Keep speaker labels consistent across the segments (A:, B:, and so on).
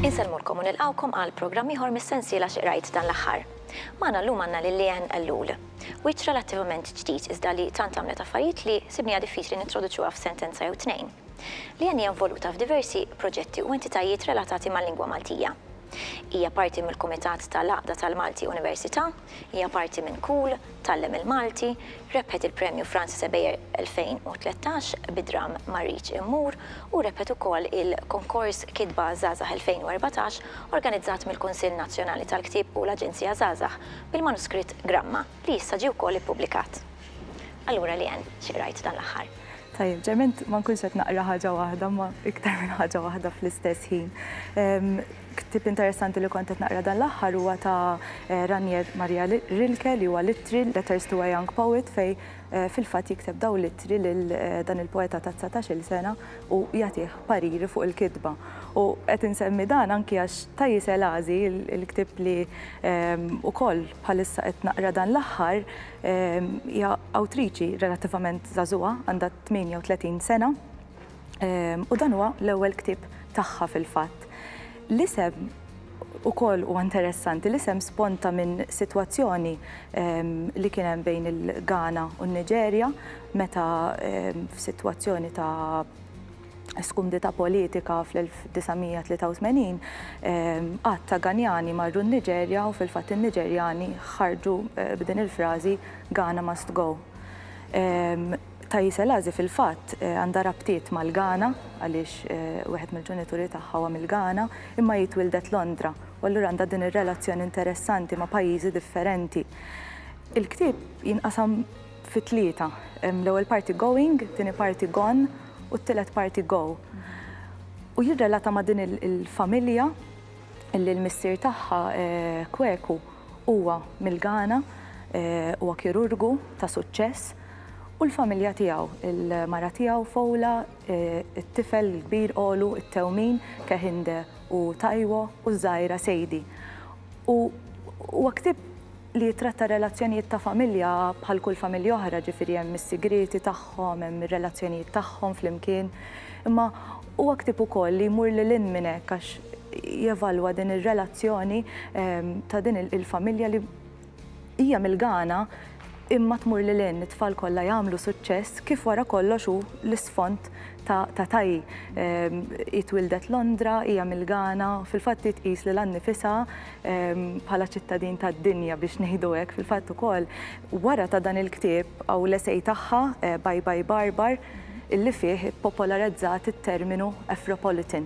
A: Insellmulkom u nilqgħukom għal programm ieħor mis-sensiela Xi Qrajt Dan l-Aħħar. Magħna llum għandna lil Leanne Ellul. Wiċċ relattivament ġdid iżda li tant għamlet affarijiet li sibniha diffiċli nintroduċuha f'sentenza jew tnejn. Leanne hija involuta f'diversi proġetti u entitajiet relatati mal-lingwa Maltija. Hija parti mill-Kumitat ta' l-Għaqda tal-Malti Università, hija parti minn Cool, Tgħallem il-Malti, rebħet il-Premju Francis Ebejer 2013 bid-dramm Ma Rridx Immur u rebħet ukoll il-Konkors Kitba Żgħażagħ 2014 organizzat mill-Kunsill Nazzjonali tal-Ktieb u l-Aġenzija Żgħażagħ bil-manuskritt Gramma li issa ġie wkoll ippubblikat. Allura Leanne, xi qrajt dan l-aħħar? Tajjeb, ġerment ma nkunx qed naqra ħaġa waħda, ma iktar minn ħaġa waħda fl-istess ħin. Ktib interessanti li kont qed naqra dan l-aħħar huwa ta' eh, Ranier Maria Rilke li huwa litri Letters to a Young Poet fej eh, fil-fatt jikteb daw litri lil eh, dan il-poeta ta' 19-il sena u jagħtih pariri fuq il-kitba. U qed insemmi dan anki għax ta' jisel għażi il-ktib li ehm, ukoll bħalissa qed naqra dan l-aħħar Hija awtriċi relattivament żagħżugħa, għandha 38 sena, u dan huwa l-ewwel ktieb tagħha fil-fatt. L-isem ukoll huwa interessanti, l-isem sponta minn sitwazzjoni li kien hemm bejn il-Ghana u n-Niġerja meta f'sitwazzjoni ta' skumdità politika fl-1983, għadd ta' Ghanjani marru n-Niġerja u fil-fatt in-Niġerjani ħarġu b'din il-frażi Ghana must go. Taye Selasi fil-fatt għandha rabtiet mal-Ghana għaliex wieħed mill-ġenituri tagħha huwa mill-Ghana imma hi twildet Londra u allura għandha din ir-relazzjoni interessanti ma' pajjiżi differenti. Il-ktieb jinqasam fi tlieta. L-ewwel parti going, it-tieni parti gone u t-tielet parti go. U jirrelata ma' din il-familja li l-missier tagħha Kweku huwa mill-Ghana, huwa kirurgu ta' suċċess u l-familja tiegħu, il-mara tiegħu Fola, it-tifel il-kbir Olu, it-tewmin Kehinde u Taiwo u ż-żgħira Sadie. U huwa ktieb li jittratta r-relazzjonijiet ta' familja bħal kull familja oħra, ġifieri hemm is-sigrieti tagħhom, hemm ir-relazzjonijiet tagħhom flimkien, imma huwa ktieb ukoll li jmur lil hinn minn hekk għax jevalwa din ir-relazzjoni ta' din il-familja li hija milgana imma tmur lil hinn, it-tfal kollha jagħmlu suċċess kif wara kollox hu l-isfond ta' Tayi. Hi twildet Londra, hija milgana, fil-fatt hi tqis lilha nnifisha, bħala ċittadin tad-dinja biex ngħidu hekk, fil-fatt ukoll wara ta' dan il-ktieb hawn l-esej tagħha eh, Bye Bye Barbar illi fih ippopolarizzat it-terminu Afropolitan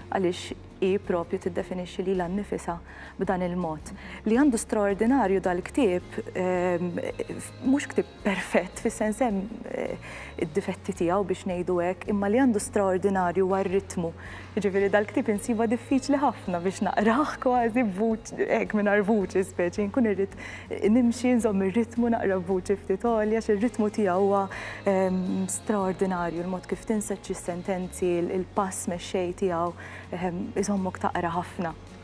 A: għaliex hi propju tiddefinixxi lilha nnifisha b'dan il-mod. Li għandu straordinarju dal-ktieb ehm, mhux ktieb perfett, fis-sens hemm id-difetti tiegħu biex ngħidu hekk, imma li għandu straordinarju huwa r-ritmu. Jiġifieri dal-ktieb insibha diffiċli ħafna biex naqrah kważi hekk mingħajr vuċi speċi, nkun irrid nimxi nżomm ir-ritmu naqra b'vuċi ftit għolja għax ir-ritmu tiegħu huwa straordinarju, il-mod kif tinseġġi s-sentenzi, il-pass mexxej tiegħu iżommok taqra ħafna.